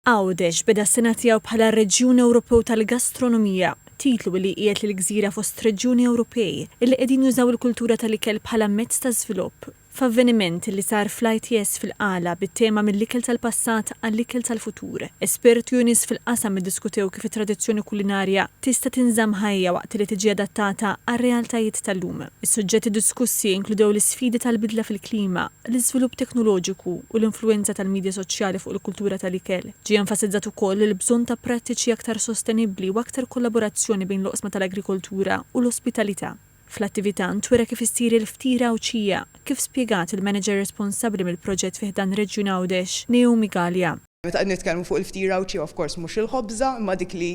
Għawdex beda s-sena tiegħu bħala Reġjun Ewropew tal-Gastronomija, titlu li jqiegħed lill-gżira fost reġjuni Ewropej li qegħdin jużaw il-kultura tal-ikel bħala mezz ta' żvilupp, f'avveniment li sar fl-ITS fil-Qala bit-tema Mill-ikel tal-passat għall-ikel tal-futur. Esperti u nies fil-qasam iddiskutew kif it-tradizzjoni kulinarja tista' tinżamm ħajja waqt li tiġi adattata għar-realtajiet tal-lum. Is-suġġetti diskussi inkludew l-isfidi tal-bidla fil-klima, l-iżvilupp teknoloġiku u l-influwenza tal-midja soċjali fuq il-kultura tal-ikel, ġie enfasizzat ukoll il-bżonn ta' prattiċi aktar sostenibbli u aktar kollaborazzjoni bejn l-oqsma tal-agrikoltura u l-ospitalità. Fl-attività ntwera kif issir il-ftir Għawdxija, kif spjegat il-manager responsabbli mill-proġett fi ħdan Reġjun Għawdex, Naomi Galea. Meta qed nitkellmu fuq il-ftira u ċ, of course mhux il-ħobża, imma dik li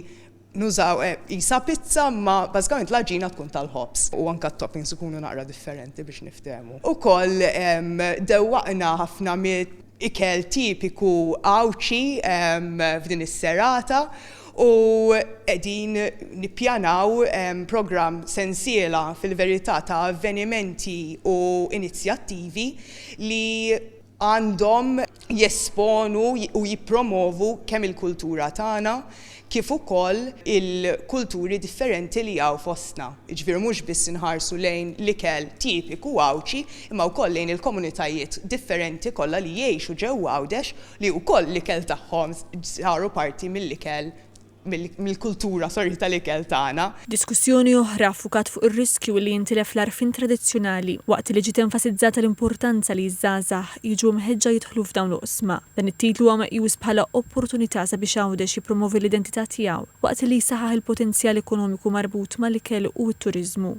nużaw qisha pizza imma bażikament l-għaġina tkun tal-ħobż. U anke t-toppings ikunu naqra differenti biex niftehmu. Ukoll dewwaqna ħafna mill-ikel tipiku Għawdxi f'din is-serata u qegħdin nippjanaw programm sensiela fil-verità ta' avvenimenti u inizjattivi li għandhom jesponu u jippromovu kemm il-kultura tagħna kif ukoll il-kulturi differenti li hawn fostna. Jiġifieri mhux biss inħarsu lejn l-ikel tipiku Għawdxi imma wkoll lejn il-komunitajiet differenti kollha li jgħixu ġewwa Għawdex li wkoll l-ikel tagħhom saru parti mill-ikel mill-kultura sorry tal-ikel tagħna. Diskussjoni oħra ffukat fuq ir-riskju li jintilef l-għarfien tradizzjonali waqt li ġiet enfasizzata l-importanza li ż-żgħażagħ jiġu mħeġġa jidħlu f'dawn l-oqsma. Dan it-titlu huwa meqjus bħala opportunità sabiex Għawdex jippromovi l-identità tiegħu waqt li jsaħħaħ il-potenzjal ekonomiku marbut mal-ikel u t-turiżmu.